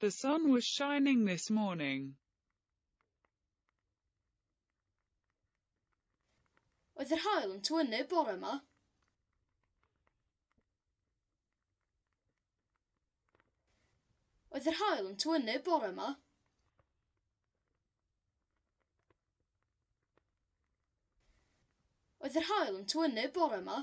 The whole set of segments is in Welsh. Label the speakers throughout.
Speaker 1: The sun was shining this morning. Oedd yr haul yn twynu bore yma. Oedd yr haul yn twynu bore yma. Oedd yr haul yn twynu bore yma.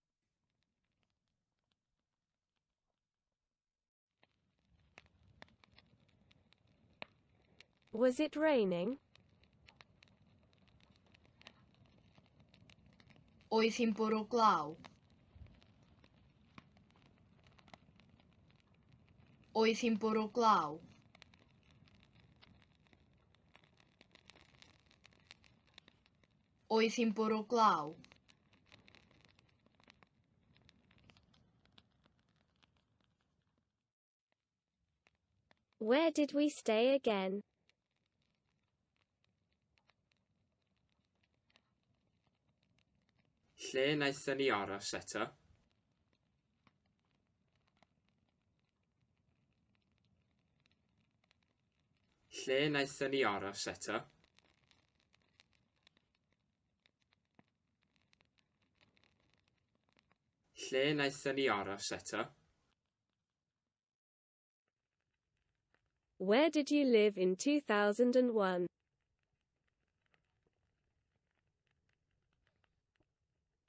Speaker 1: Was it raining? Oedd hi'n bwrw glaw? Oedd hi'n bwrw glaw? Oedd hi'n bwrw glaw? Where did we stay again? Lle wnaethon ni aros eto? Lle naethon ni aros eto? Lle naethon ni aros eto? Where did you live in 2001?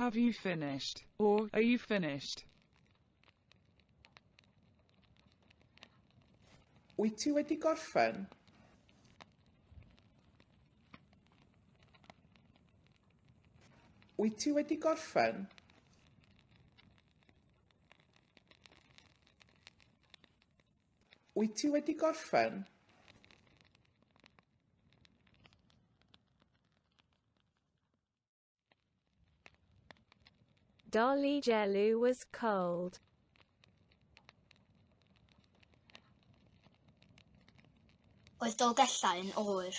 Speaker 1: Have you finished? or Are you finished? Wyt ti wedi gorffen? Wyt ti wedi gorffen? Wyt ti wedi gorffen? Dolly Jellu was cold. Oedd Dolgellau yn oer.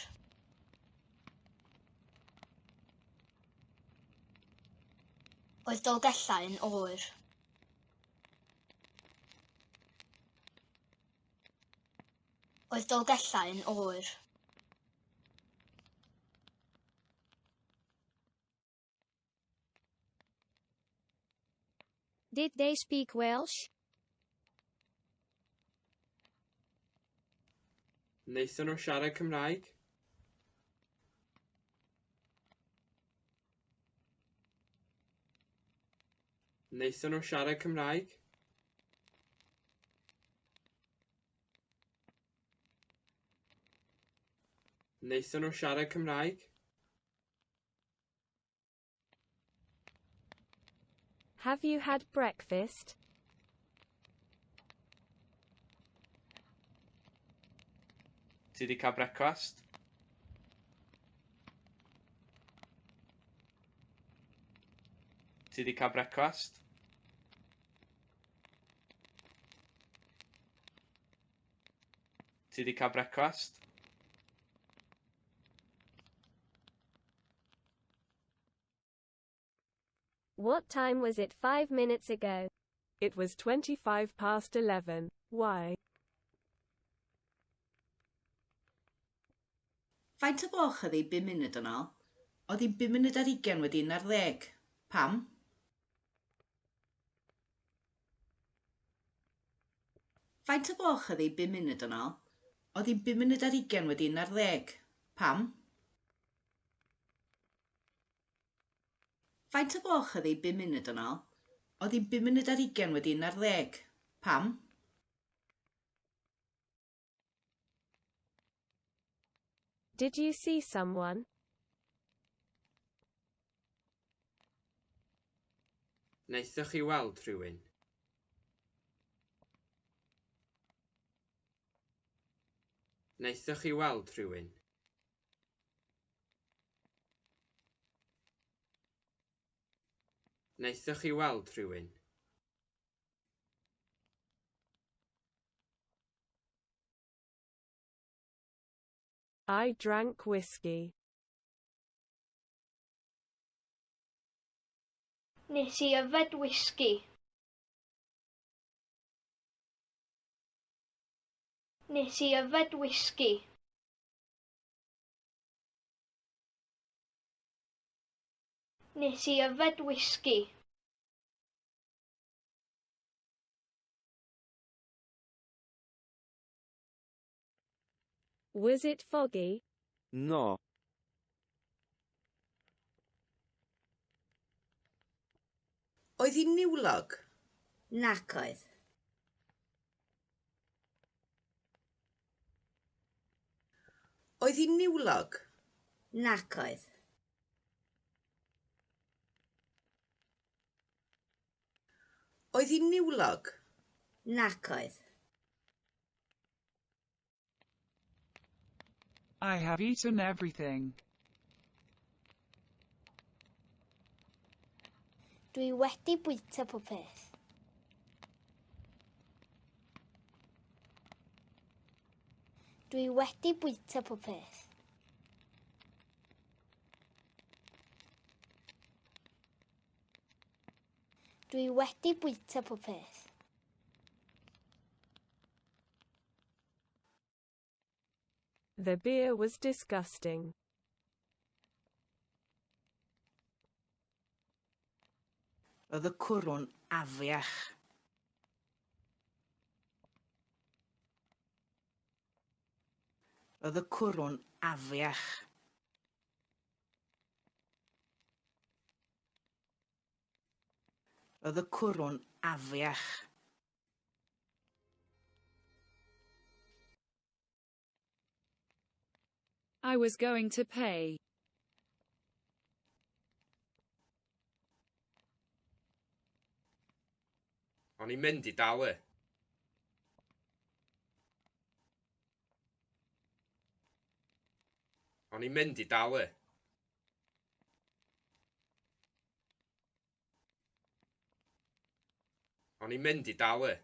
Speaker 1: Oedd Dolgellau yn oer. oedd Dolgellau yn oer. Did they speak Welsh? Wnaethon nhw siarad Cymraeg? Wnaethon nhw siarad Cymraeg? Wnaethon nhw siarad Cymraeg? Have you had breakfast? Ti wedi cael brecwast? Ti wedi cael brecwast? Ti wedi cael brecwast? What time was it five minutes ago? It was 25 past 11. Why? Faint o gloch oedd hi bum munud yn ôl? Oedd hi'n bum munud ar ugen wedi un ar ddeg. Pam? Faint o gloch oedd hi bum munud yn ol? Oedd hi'n bum munud ar ugen wedi un ar ddeg. Pam? Faint o gloch oedd hi bum munud yn ol? Oedd hi'n bum munud ar ugen wedi un ar ddeg. Pam? Did you see someone? Wnaethoch chi weld rhywun? Wnaethoch chi weld rhywun? Wnaethoch chi weld rhywun? I drank whiskey. Nes i yfed whisky. Nes i yfed whisky. Nes i yfed whisky. Was it foggy? No. Oedd hi'n niwlog? Nac oedd. Oedd hi'n niwlog? Nac oedd. Oedd hi'n niwlog? Nac oedd. I have eaten everything. Dwi wedi bwyta popeth. Dwi wedi bwyta popeth. Dwi wedi bwyta pob peth. The beer was disgusting. Oedd y cwrw'n afiach. Oedd y cwrw'n afiach. Roedd y cwrw'n afiach. I was going to pay. O'n i'n mynd i dalu. O'n i'n mynd i dal e. O'n i'n mynd i dal e.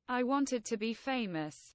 Speaker 1: I wanted to be famous.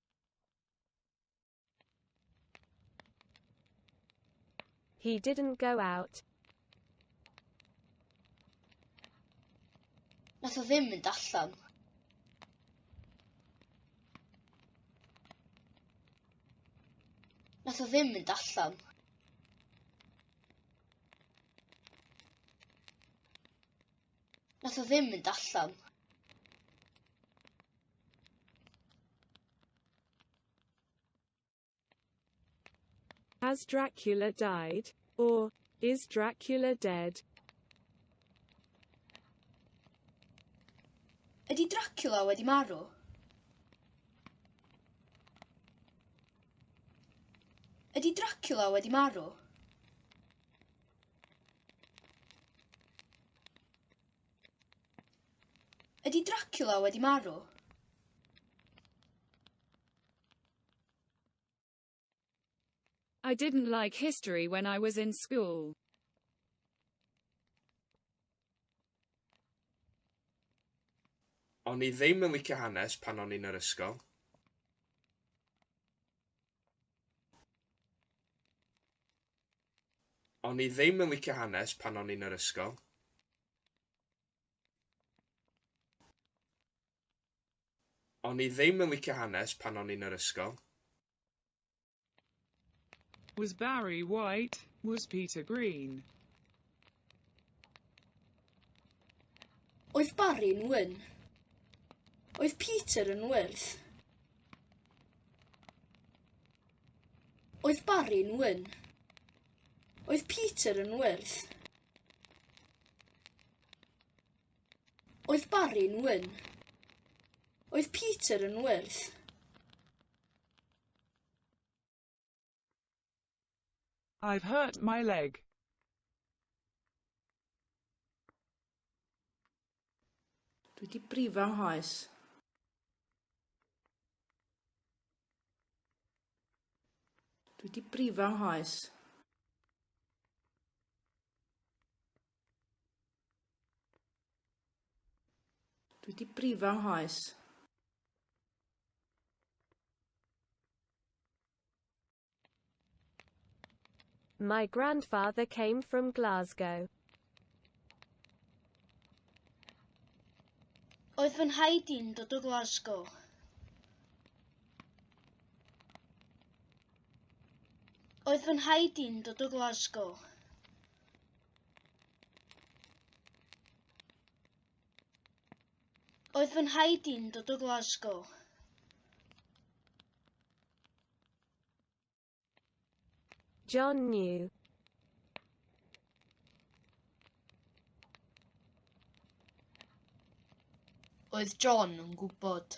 Speaker 1: He didn't go out. Nath o ddim mynd allan. Nath o ddim mynd allan. Nath o ddim mynd allan. Has Dracula died? Or, is Dracula dead? Ydy Dracula wedi marw? Ydy Dracula wedi marw? Ydy Dracula wedi marw? I didn't like history when I was in school. O'n i ddim yn licio hanes pan o'n i'n yr ysgol. O'n i ddim yn licio hanes pan o'n i'n yr ysgol. O'n i ddim yn licio hanes pan o'n i'n yr ysgol. Was Barry white? Was Peter green? Oedd Barry'n wyn? Oedd Peter yn wyrdd? Oedd Barry'n wyn? Oedd Peter yn wyrdd? Oedd Barry'n wyn? Oedd Peter yn wyrdd? I've hurt my leg. Dwi wedi brifo nghoes. Dwi wedi brifo nghoes. Dwi di brifo nghoes. My grandfather came from Glasgow. Oedd fy nhaid i'n dod o Glasgow. Oedd fy nhaid i'n dod o Glasgow. Oedd fy nhaid i'n dod o Glasgow. John New. Oedd John yn gwybod.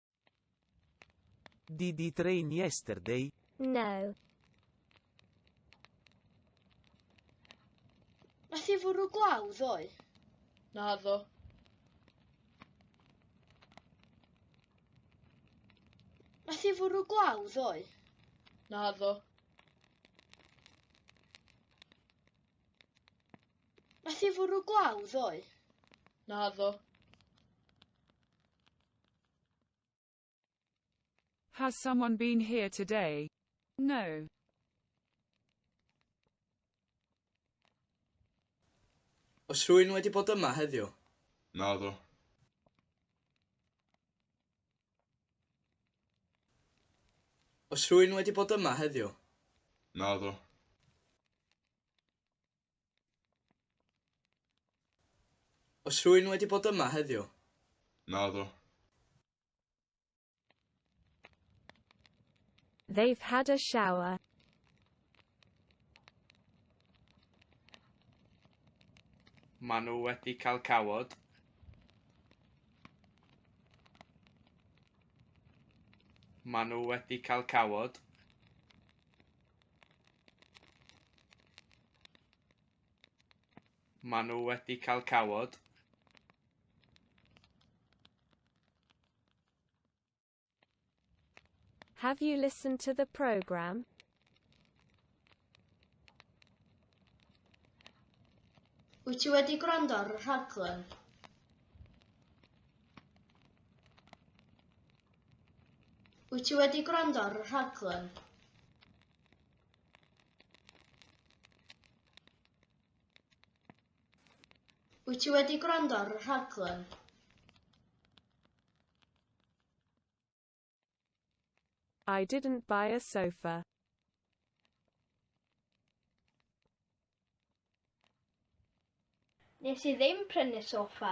Speaker 1: Did it rain yesterday? No. Nath i fwrw glaw ddoe? Na ddo. Nath i fwrw glaw ddoe? Na ddo. Nath i fwrw glaw ddoe? Na ddo. Has someone been here today? No. Oes rhywun wedi bod yma heddiw? Naddo. Oes rhywun wedi bod yma heddiw? Naddo. Oes rhywun wedi bod yma heddiw? Naddo. They've had a shower. Maen nhw wedi cael cawod. Maen nhw wedi cael cawod. Maen nhw wedi cael cawod. Have you listened to the program? Wyt ti wedi gwrando ar y rhaglen? Wyt ti wedi gwrando ar y rhaglen? Wyt ti wedi gwrando ar y rhaglen? I didn't buy a sofa. Nes i ddim prynu soffa.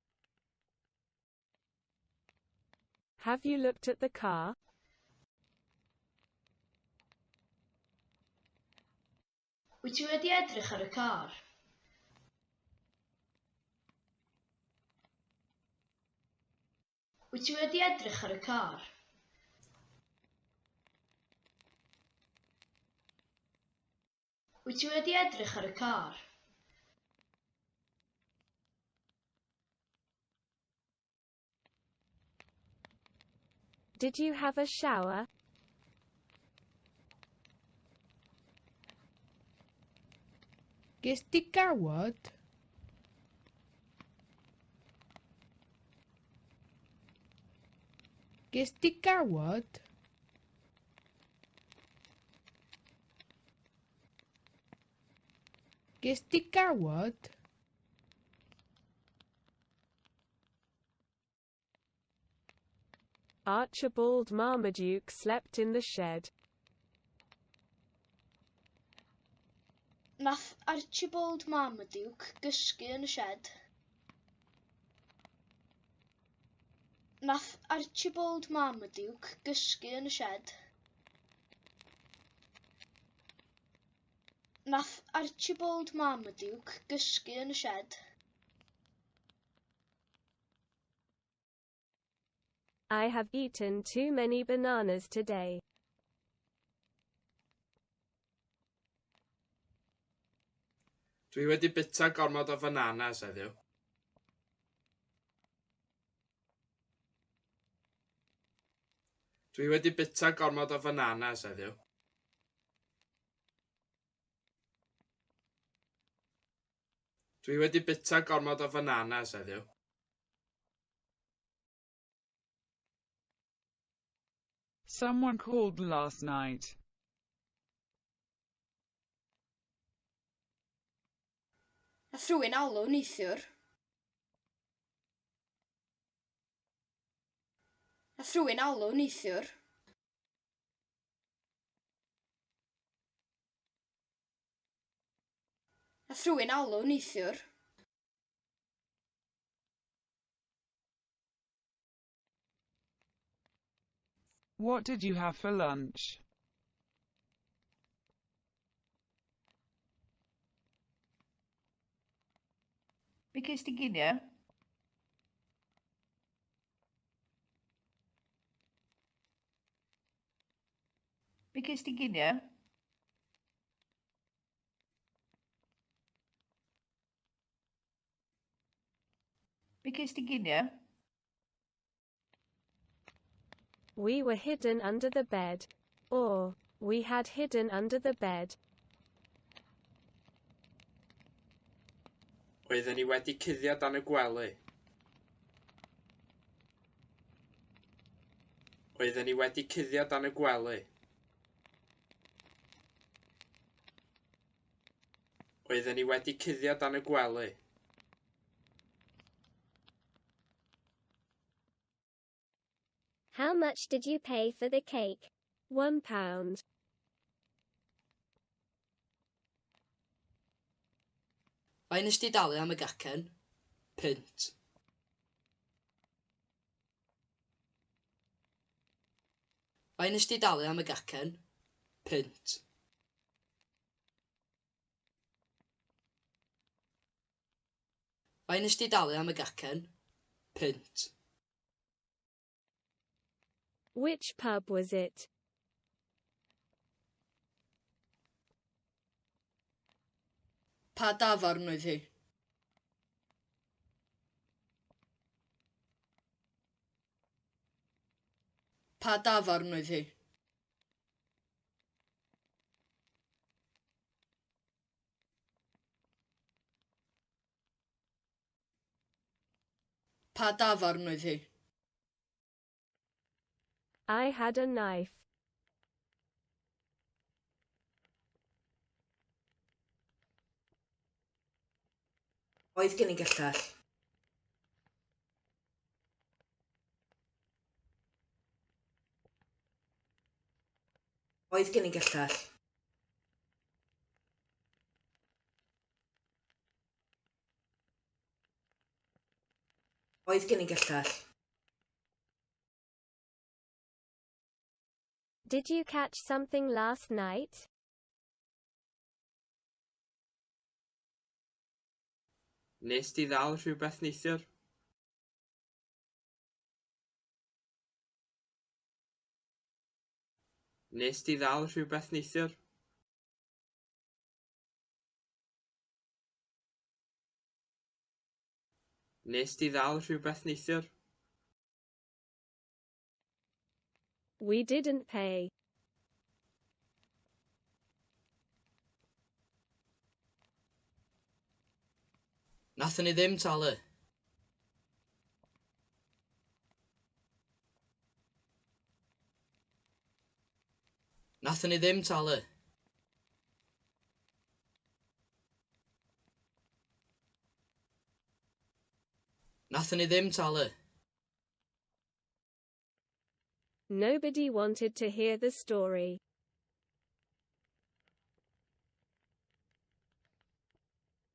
Speaker 1: Have you looked at the car? Wyt ti wedi edrych ar y car? Wyt ti wedi edrych ar y car? Wyt ti wedi edrych ar y car? Did you have a shower? Ges di gawod? Ges di gawod? Ges di gawod? Archibald Marmaduke slept in the shed. Nath Archibald Marmaduke gysgu yn y shed. Nath Archibald Marmaduke gysgu yn y shed. Nath Archibald Marmaduke gysgu yn y shed. I have eaten too many bananas today. Dwi wedi bita gormod o fananas heddiw. Dwi wedi bita gormod o fananas heddiw. Dwi wedi bita gormod o fananas heddiw. Someone called last night. Nath rhywun alw neithiwr. Nath rhywun alw neithiwr. Nath rhywun alw neithiwr. What did you have for lunch? Be ges ti ginio? Be ges ti ginio? Be gest ti ginie? We were hidden under the bed. Or, we had hidden under the bed. Oedden ni wedi cuddio dan y gwely. Oedden ni wedi cuddio dan y gwely. Oedden ni wedi cuddio dan y gwely. How much did you pay for the cake? One pound. Faint nes di dalu am y gacen? Punt. Be nes di dalu am y gacen? Punt. Be nes di dalu am y gacen? Punt. Which pub was it? Pa dafarn oedd hi? Pa dafarn oedd hi? Pa dafarn oedd hi? I had a knife. Oedd gen i gyllell. Oedd gen i gyllell. Oedd gen i gyllell. Did you catch something last night? Nes di ddal rhywbeth neithiwr? Nes di ddal rhywbeth neithiwr? Wnest ti ddal rhywbeth neithiwr? We didn't pay. Nathon ni ddim talu. Nathon ni ddim talu. Nathon ni ddim talu. Nobody wanted to hear the story.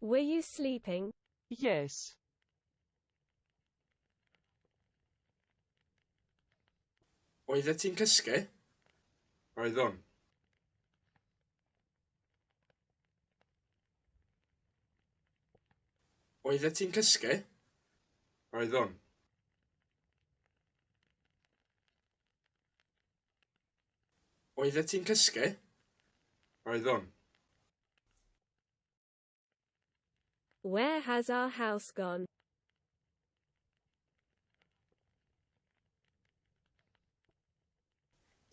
Speaker 1: Were you sleeping? Yes. Oeddet ti'n cysgu? Oeddwn. Oeddet ti'n cysgu? Oeddwn. Oeddet ti'n cysgu? Oeddwn. Where has our house gone?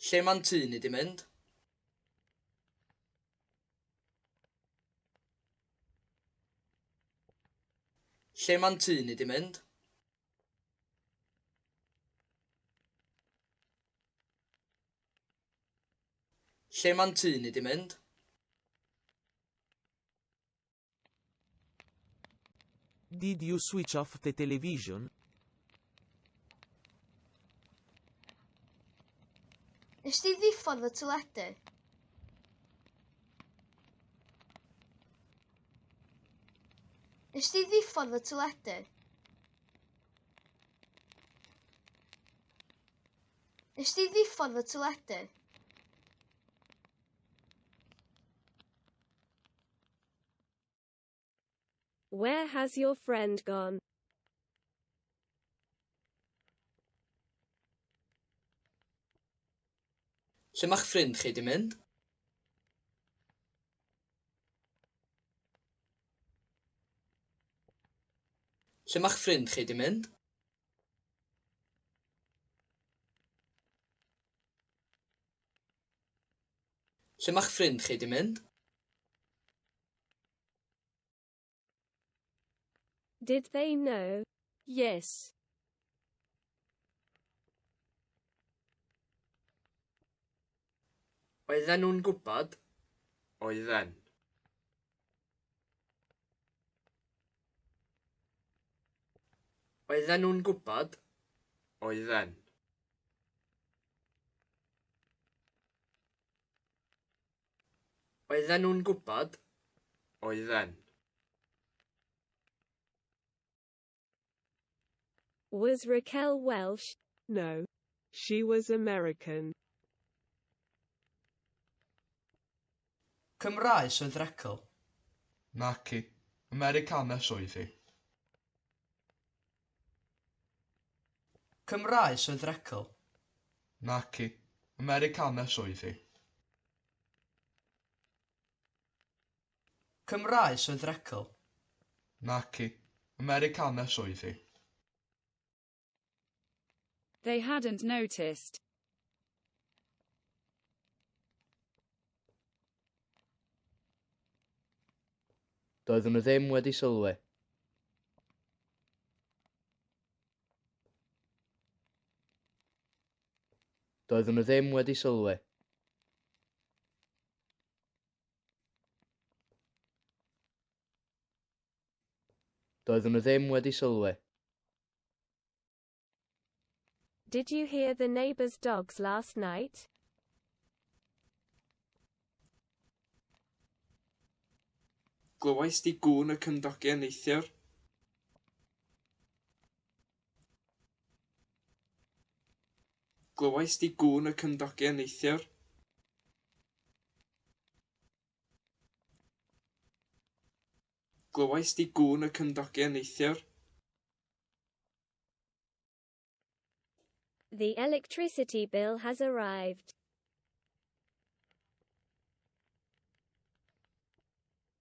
Speaker 1: Lle mae'n tŷ ni di mynd? Lle mae'n tŷ ni di mynd? Lle mae'n tŷ ni di mynd? Did you switch off the television? Nes di ddiffodd y teledu? Nes di ddiffodd y teledu? Nes di ddiffodd y teledu? Where has your friend gone? Lle mae'ch ffrind chi di mynd? Lle mae'ch ffrind chi di mynd? Lle mae'ch ffrind chi 'di mynd? Did they know? Yes. Oedden nhw'n gwybod? Oedden. Oedden nhw'n gwybod? Oedden. Oedden nhw'n gwybod? Oedden. Was Raquel Welsh? No. She was American. Cymraes oedd Raquel? Naci. Americanes oedd hi. Cymraes oedd Raquel? Naci. Americanes oedd hi. Cymraes oedd Recl? Naci, Americanes oedd hi. They hadn't noticed. Doeddwn nhw ddim wedi sylwi. Doeddwn nhw ddim wedi sylwi. Doeddwn nhw ddim wedi sylwi. Did you hear the neighbour's dogs last night? Glywais di gŵn y cymdogion neithiwr? Glywais di gŵn y cymdogion neithiwr? Glywais di gŵn y cymdogion neithiwr? The electricity bill has arrived.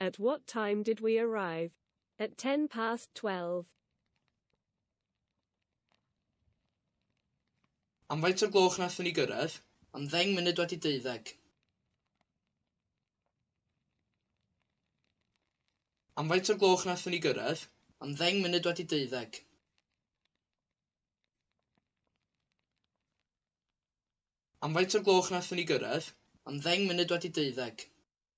Speaker 1: At what time did we arrive? At ten past twelve. Am faint o'r gloch nathon ni gyrraedd? Am ddeng munud wedi deuddeg. Am faint o'r gloch nathon ni gyrraedd? Am ddeng munud wedi deuddeg. Am faint o'r gloch wnaethon ni gyrraedd? Am ddeng munud wedi deuddeg.